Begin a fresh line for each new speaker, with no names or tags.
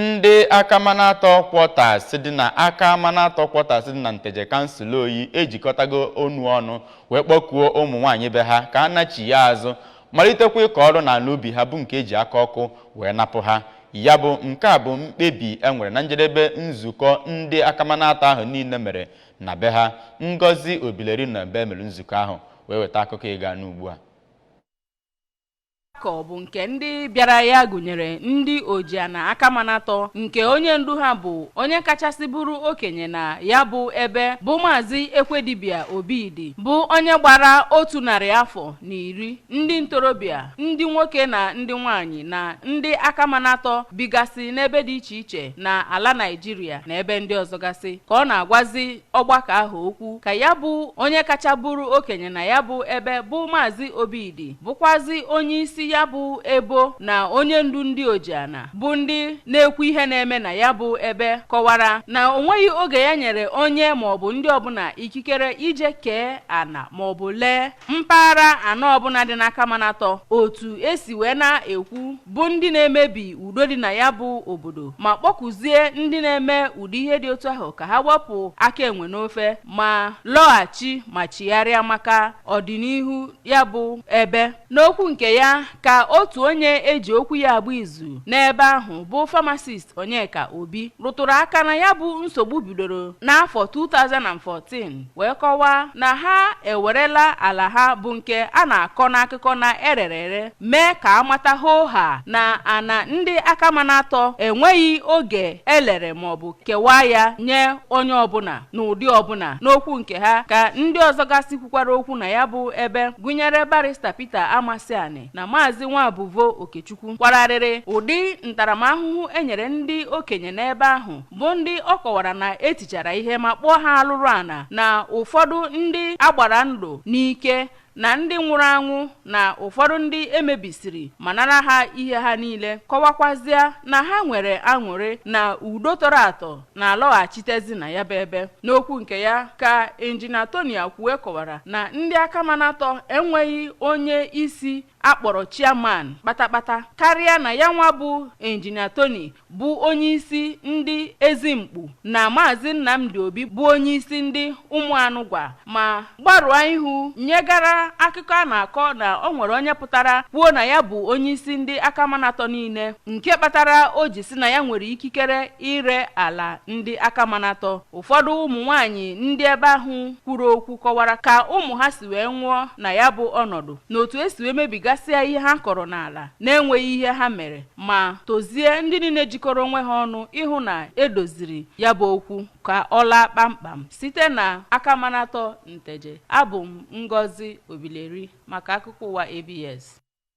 ndị akamanatọ kwọtas dị na akamanatọ kwọtas dị na nteje kansụl oyi ejikọtago onu ọnụ wee kpọkuo ụmụ nwaanyị be ha ka a nachie azụ malitekwa ịkọ ọrụ n'ala ubi ha bụ nke e ji aka ọkụ wee napụ ha ya bụ nke a bụ mkpebi e nwere na njedebe nzukọ ndị akamanatọ ahụ niile mere na be ha ngozi obileri nọ ebe e mere nzukọ ahụ wee weta akụkọ ị ga-anụ ugbu a
ka ọ bụ nke ndị bịara ya gụnyere ndị ojiana akamanatọ nke onye ndu ha bụ onye kachasị bụrụ okenye na ya bụ ebe bụ maazị ekwedibia obidi bụ onye gbara otu narị afọ na iri ndị ntorobịa ndị nwoke na ndị nwanyị na ndị akamanatọ bigasị n'ebe dị iche iche na ala naijiria na ebe ndị ọzọ gasị ka ọ na-agwazi ọgbakọ ahụ okwu ka ya bụ onye kacha bụrụ okenye na ya bụ ebe bụ maazị obidi bụkwazi onye isi ya bụ ebo na onye ndu ndị ojiana bụ ndị na-ekwu ihe na-eme na ya bụ ebe kọwara na o nweghị oge ya nyere onye maọbụ ndị ọbụla ikikere ije kee ana maọbụ lee mpaghara ana ọbụla dị n'akamanatọ otu e si wee na-ekwu bụ ndị na-emebi udo dị na ya bụ obodo ma kpọkuzie ndị na-eme ụdị ihe dị otu ahụ ka ha wepụ aka enwe n'ofe ma lọghachi ma chigharịa maka ọdịnihu ya bụ ebe n'okwu nke ya ka otu onye e ji okwu ya agba izu n'ebe ahụ bụ famasist onyeka obi rụtụrụ aka na ya bụ nsogbu bidoro n'afọ 2014 wee kọwaa na ha ewerela ala ha bụ nke a na-akọ n'akụkọ na e rere ere mee ka a mata hoo haa na ana ndị akamanatọ enweghị oge e lere maọbụ kewaa ya nye onye ọbụla n'ụdị ọbụla n'okwu nke ha ka ndị ọzọ gasị kwukwara okwu na ya bụ ebe gụnyere barista Peter Amasiani na maazị Nwabuvo Okechukwu kwara arịrị ụdị ntaramahụhụ e nyere ndị okenye n'ebe ahụ bụ ndị ọ kọwara na e tichara ihe ma kpọọ ha alụrụ ana na ụfọdụ ndị a gbara ndụ n'ike na ndị nwụrụ anwụ na ụfọdụ ndị e mebisiri ma nara ha ihe ha niile kọwakwazịa na ha nwere aṅụrị na udo tọrọ atọ na-alọghachitezi na ya bụ ebe n'okwu nke ya ka injinia Tony Akwue kọwara na ndị akamanatọ enweghị onye isi a kpọrọ chairman kpatakpata karịa na ya nwa bụ Injinia Tony bụ onyeisi ndị Ezimkpu na Maazị Nnamdi Obi bụ onyeisi ndị Ụmụanụgwa ma gbarụọ ihu nyegara akụkọ a na-akọ na o nwere onye pụtara kwuo na ya bụ onyeisi ndị akamanatọ niile nke kpatara o ji sị na ya nwere ikikere ire ala ndị akamanatọ ụfọdụ ụmụ nwaanyị ndị ebe ahụ kwuru okwu kọwara ka ụmụ ha si wee nwụọ na ya bụ ọnọdụ na otu esi wee mebigasịa ihe ha kọrọ n'ala na-enweghị ihe ha mere ma tozie ndị niile jikọrọ onwe ha ọnụ ịhụ na edoziri ya bụ okwu ka ọ laa kpamkpam site na akamanatọ nteje abụ m ngozi obileri maka akụkọ ụwa abs